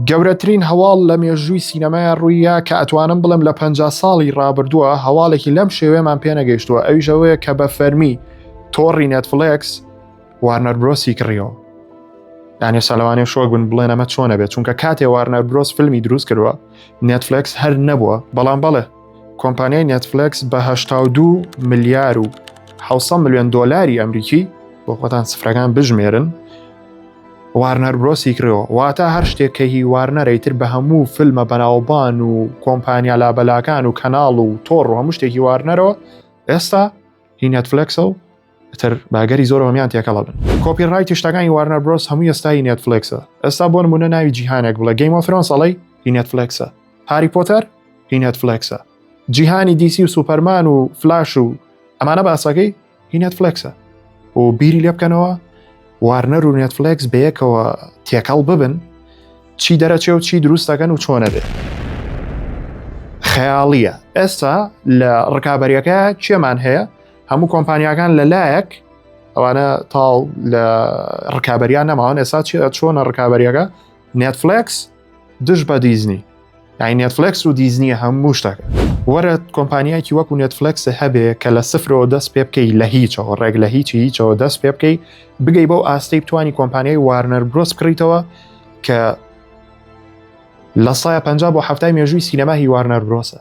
گەورەترین هەواڵ لە مێژووی سینەمای ڕوویە کە ئەتوانم بڵێم لە پ ساڵی ڕابردووە هەواڵێکی لەم شێوێمان پێنەگەیشتووە ئەویشەوەیە کە بە فەرمی تۆڕی نەتفلکس وارنەر برۆسی کڕیەوە یانێ سەلوانێ شۆگون بڵێن ئەمە چۆنە بێت چونکە کاتێ وارنەر برۆس فیلمی دروست کردووە نەتفلکس هەر نەبووە بەڵام بەڵێ کۆمپانیای نەتفلکس بەه2 ملیار و 600 میلیۆن دلاری ئەمریکی بۆ خۆتان سفرەکان بژمێرن وارنەر برۆسی کرێەوە واتە هەر شتێک کە هی وارنەرەی تر بە هەموو فیلمە بەناوبان و کۆمپانیا لابەلاکان و کەناڵ و تۆڕ و هەموو شتێکی وارنەرەوە ئێستا هی نێتفلکسە و تر باگەری زۆر هەمیان تێکەڵە بن کۆپی ڕای تشتەکانی وارنەر برۆس هەموو ئێستای نێتفلکسە ئێستا بۆ نمونە ناوی جیهانێک بڵێ گەیمۆ فرۆن سەڵی هی نێتفلکسە هاری پۆتەر هی نێتفلکسە جیهانی دیسی و سوپەرمان و فلاش و ئەمانە باسەکەی هی نێتفلکسە و بیری لێ بکەنەوە وارنەر و نێتفلکس بەیەکەوە تێکەڵ ببن چی دەرەچێ و چی دروستەکەن و چۆنە بێت خەیاڵیە ئێستا لە ڕکابەریەکە کێمان هەیە هەموو کۆمپانیاکان لە لایەک ئەوانە تاڵ لە ڕکابەریان نەماوان ئێستا چۆنە ڕکابەریەکە نێتفلکس دژ بە دیزنی یعنی نێتفلکس و دیزنیە هەموو شتەکە وەرە کۆمپانیایکی وەکو نێتفلکس هەبێ کە لە سفرەوە دەست پێ بکەی لە هیچەوە ڕێک لە هیچی هیچەوە دەست پێ بکەی بگەی بەو ئاستی بتانی کۆمپانیای وارنەر برۆس بکڕیتەوە کە لە سایە پ بۆ هەفتای مێژووی سینەما هی وارنەر برۆسە